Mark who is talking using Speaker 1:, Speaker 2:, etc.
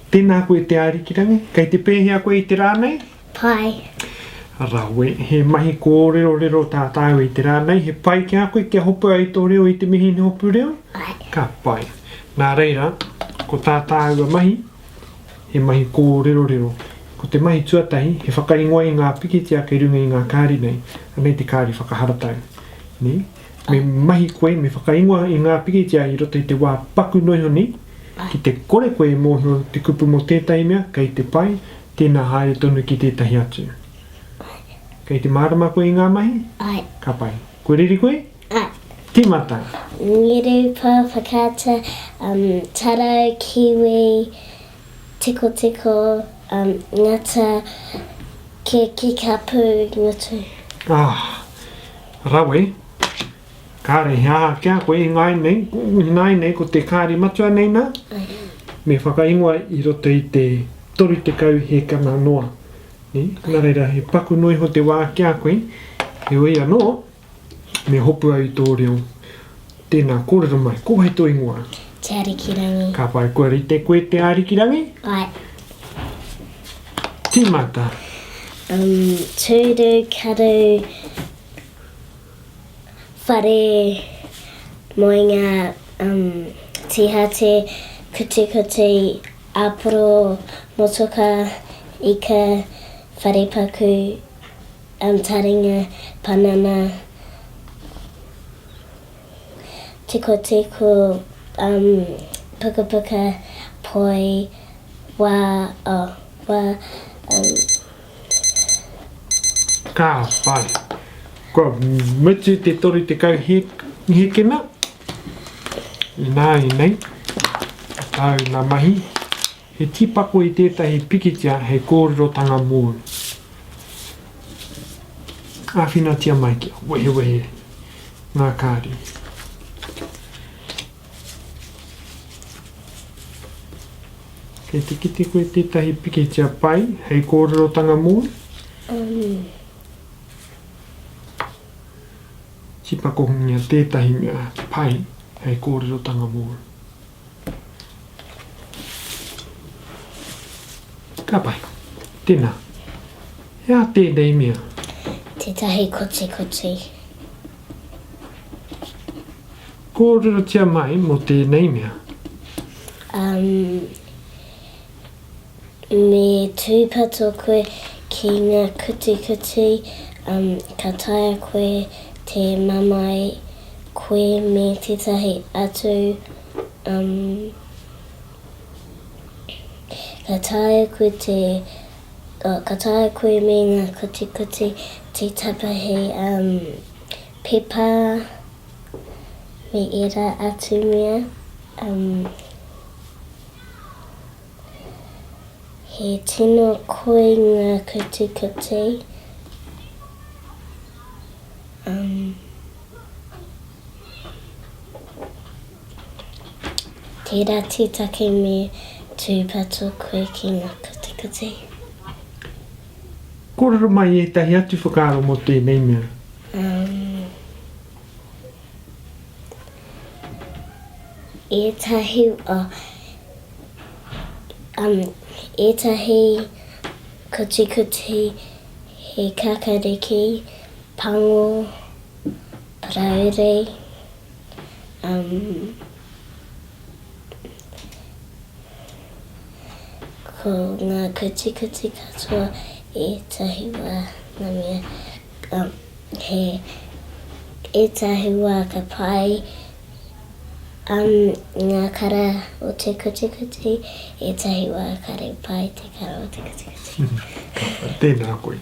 Speaker 1: Tēnā koe Te Ārikirangi, kei te pēhea koe i te rā nei? Pai.
Speaker 2: Rawe,
Speaker 1: he mahi kōrerorero tā tāua i te rā nei, he pai ki a koe kia hopu ai tō reo i te mihini hopu reo? Pai. Ka pai. Nā reira, ko tā tāua mahi, he mahi kōrerorero. Ko te mahi tuatahi, he whakaingoa i ngā pikitia kei runga i ngā kāri nei, anei te kāri whakaharatau. Nē? Me mahi koe, me whakaingoa i ngā pikitia i roto i te wā paku noiho nei, ki te kore koe e mōhio te kupu mō tētahi mea kei te pai, tēnā haere tonu ki tētahi atu. Kei te mārama koe i ngā mahi? Ae. Ka pai.
Speaker 2: Kua
Speaker 1: reri koe? Ae.
Speaker 2: Tīmata.
Speaker 1: Ngirupa,
Speaker 2: whakaata, um, tarau, kiwi, tikotiko, um, ngata, kekikapu, ngutu. Ah!
Speaker 1: Rawe, Kāre he aha ki a koe i ngāi nei, i ngāi nei ko te kāri matua nei nā? Me whakaingoa i roto i te 30 hēkana noa. Nā reira, he paku noa iho te wā ki a koe, heoi anō, me hopu au i tō reo. Tēnā, kōrero mai, ko wai tō ingoa? Te Arikirangi.
Speaker 2: Ka whai kua rite
Speaker 1: koe Te Arikirangi? Ae. Tīmata. Um,
Speaker 2: tūru, karu, whare, moenga, um, tīhate, kutikuti, āporo, motoka, ika, wharepaku. An taringa panana tikotiko um pukapuka poi wa oh wa um.
Speaker 1: Ka pai. Kua mutu te 30 hekena. Ināianei, tāu ngā mahi. He tīpako i tētahi pikitia hei kōrerotanga mōu. Āwhinatia mai kia wehewehe ngā kāri. Kei te kite koe tētahi pikitia pai hei kōrerotanga mōu? Tīpakohungia tētahi mea pai hei kōrerotanga mōu. Ka pai. Tēnā. He aha tēnei mea? Tētahi
Speaker 2: kotikoti.
Speaker 1: Kōrerotia mai mō tēnei mea. Um,
Speaker 2: Me tūpato koe ki ngā kutikuti, um, ka taea koe te mamae koe me tētahi atu, um, ka taea koe te, oh, ka taea koe me ngā kutikuti te tapa hei, um, pepa me ērā atu mea, um. He tino koi nga kutikuti. Um, tera titake me tupato koe ki nga kutikuti.
Speaker 1: Korero mai etahi atu whakaaro mo tenei mea. Um, etahi,
Speaker 2: oh, um, ētahi kutikuti, he kakariki, pango, parauri, um, ko ngā kutikuti katoa ētahi wā ngā mea um, he ētahi wā ka pai Am ngā kara o te kutikuti, ētahi wā ka
Speaker 1: ripa
Speaker 2: i te kara o te kutikuti. Ka
Speaker 1: pai,
Speaker 2: tēnā koe.